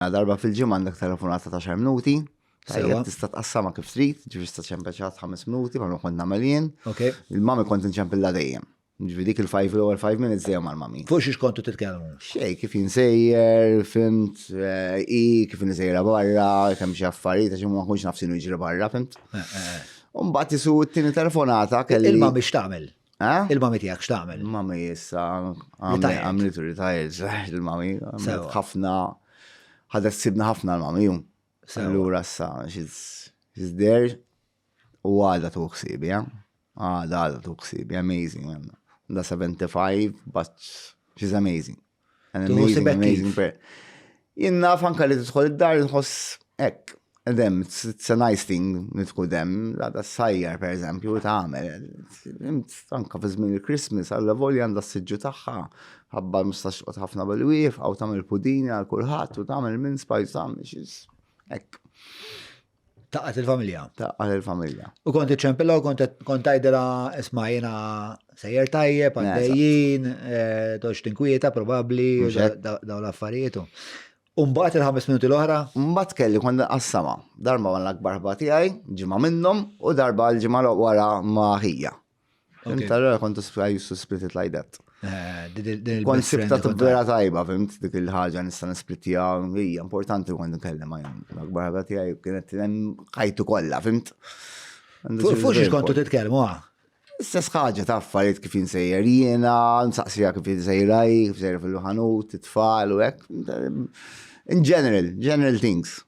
Mela darba fil-ġimgħa għandek telefonata ta' xar minuti. Tajjeb tista' tqassama kif trid, ġifieri tista' ċempeċat ħames minuti bħalma kont nagħmel jien. Il-mami kont inċempilla dejjem. Ġifieri dik il-five l-ewwel five minutes dejjem mal-mami. Fuq xiex kontu titkellmu? Xej, kif jinsejjer, fimt, eh, i kif insejra barra, kemm xi affarijiet għax ma kunx naf x'inhu jiġri barra, fimt. Eh, eh, Umbat isu t-tieni telefonata kelli. Il-mami x'tagħmel? Eh? Il-mami tijak x'tagħmel? Il-mami issa għamlet retired, il-mami għamlet ħafna ħadet sibna ħafna l-mami jum. Allura issa she's there u għada tu ħsibi, eh? għada għada tu ħsibi, amazing. Da 75, but she's amazing. Jien naf anka li tidħol id-dar nħoss hekk, dem, it's a nice thing li tkun dem, la da sajjar per eżempju, u tagħmel. Anka fi żmien il-Christmas, għalla volja għandha s-siġġu tagħha, ħabba mustax qod ħafna bil-wief, għaw tagħmel pudini għal kulħadd u tagħmel minn spajs tagħmel xis. Hekk. Taqqat il-familja. Taqqat il-familja. U kont iċempilla u kont tajdela isma jena sejjer tajjeb, għaddejjien, eh, toċ tinkwieta probabli, daw l-affarietu. Umbat il-ħames minuti l-oħra? Umbat kelli kont qassama. Darba għan l-akbar ħbati għaj, ġimma minnom, u darba l-ġimma wara maħija. Fim tarra kontu I used to split it like that. Eh, kont sibta t-vera tajba, fimt, dik il-ħagġa nista nisplittija, hija importanti kont nkellem għajn. L-akbar ħagħa tiegħi kienet ħajtu kollha, fimt. Fux kontu titkellmu għah. Ah? Istess ħaġa ta' affarijiet kif insejjer jiena, nsaqsija kif insejraj, kif insejjer fil-ħanut, it-tfal u hekk. In general, general things.